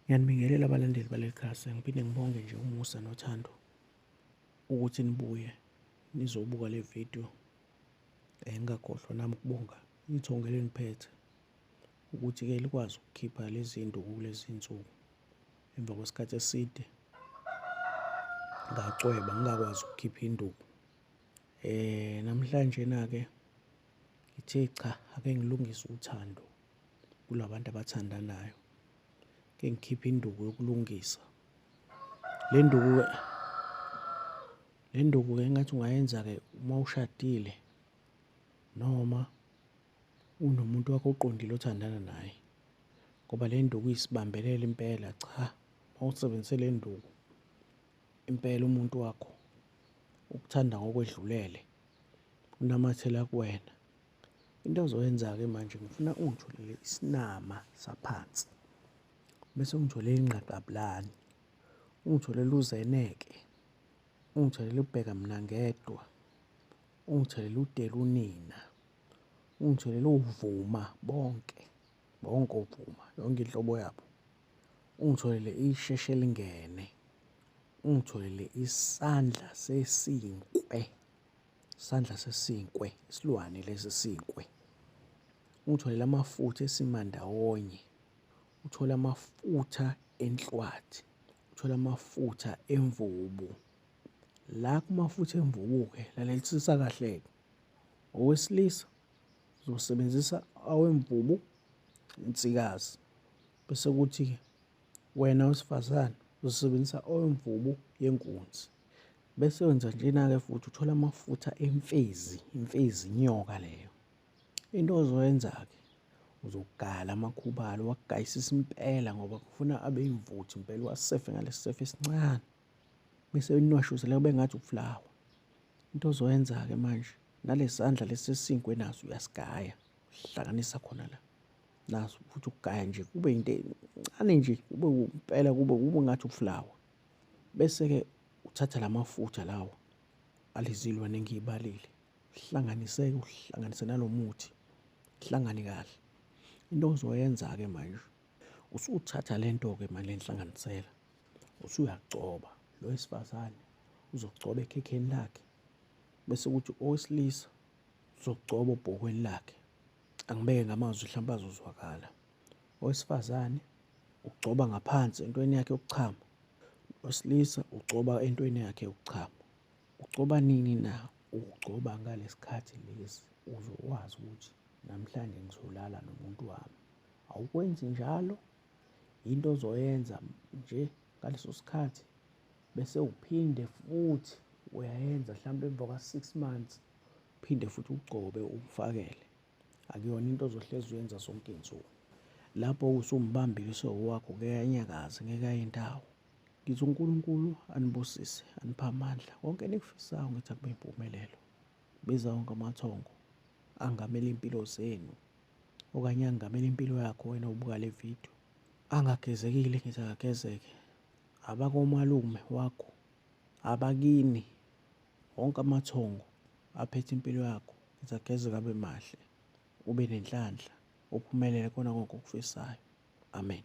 Ngiyanibingelela abalandeli baleli khasi, ngiphinde ngibonge nje umusa nothando ukuthi nibuye nizobuka le video. Engingakhohlwa nami ukubonga ithongo elingiphethe ukuthi-ke likwazi ukukhipha lezi zinto kulezi nsuku emva kwesikhathi eside ngacweba ngingakwazi ukukhipha induku. Eh namhlanje na-ke ngithe cha ake ngilungise uthando kulabantu abathandanayo ke ngikhiphe induku yokulungisa le nduku le nduku ke ngathi ungayenza ke uma ushadile noma unomuntu wakho oqondile othandana naye ngoba le nduku isibambelela impela cha mawusebenzise le nduku impela umuntu wakho ukuthanda ngokwedlulele unamathela kuwena Into ozoyenza-ke manje ngifuna ungitholele isinama saphansi bese ungitholele ingqaqabulani ungitholele uzeneke ungitholele ubheka mina ngedwa ungitholele udela unina ungitholele uvuma bonke bonke ovuma yonke inhlobo yabo ungitholele isheshe lingene ungitholele isandla sesinkwe Sandla sesinkwe, isilwane lesi sinkwe. Uthole amafutha esimandawonye. Uthole amafutha enhlwathi. Uthole amafutha emvubu. La kumafutha emvubu-ke lalelisisa kahle-ke. Owesilisa uzosebenzisa awemvubu insikazi. Bese kuthi-ke wena wesifazane uzosebenzisa awemvubu yenkunzi. Bese wenza njena-ke futhi uthola amafutha emfezi, imfezi inyoka leyo. Into ozoyenza-ke uzogala amakhubalo uwagayisise impela ngoba kufuna abe imvuthi impela uwasefe ngalesi sefe esincane bese uninwashuzela kube ngathi uflawa. Into ozoyenza-ke manje nalesandla lesi esinkwe naso uyasigaya uhlanganisa khona la naso futhi ukugaya nje kube into encane nje kube impela kube kube ngathi uflawa. Bese-ke uthatha la mafutha lawo alizilwane engiyibalile, hlanganise-ke uhlanganise nalo muthi, hlangane kahle. Into ozoyenza-ke manje, usuthatha le nto-ke manje lenhlanganisela, usuyagcoba lo wesifazane uzogcoba ekhekheni lakhe, bese kuthi owesilisa uzogcoba obhokweni lakhe. Angibeke ngamazwi hlampe azozwakala. Owesifazane ugcoba ngaphansi entweni yakhe yokuchama. Osilisa ugcoba entweni yakhe yokuchama. Ugcoba nini na? Ugcoba ngalesikhathi lesi uzokwazi ukuthi namhlanje ngizolala nomuntu wami. Awukwenzi njalo, yinto ozoyenza nje ngaleso sikhathi bese uphinde futhi uyayenza mhlawumbe emva kwa-six months, uphinde futhi ugcobe ufakele. akuyona into ozohlezi uyenza sonke insuku lapho usumbambile uSewu wakho ngeke anyakaze ngeke aye ndawo ngithi uNkulunkulu anibusise anipha amandla konke enikufisayo ngithi akube impumelelo biza wonke amathongo angamele impilo zenu okanye angamele impilo yakho wena ubuka le video angagezekile ngithi akagezeke abakomalume wakho Abakini wonke amathongo aphethe impilo yakho ngizagezeka abe mahle ube nenhlanhla uphumelele kona konke okufisayo amen.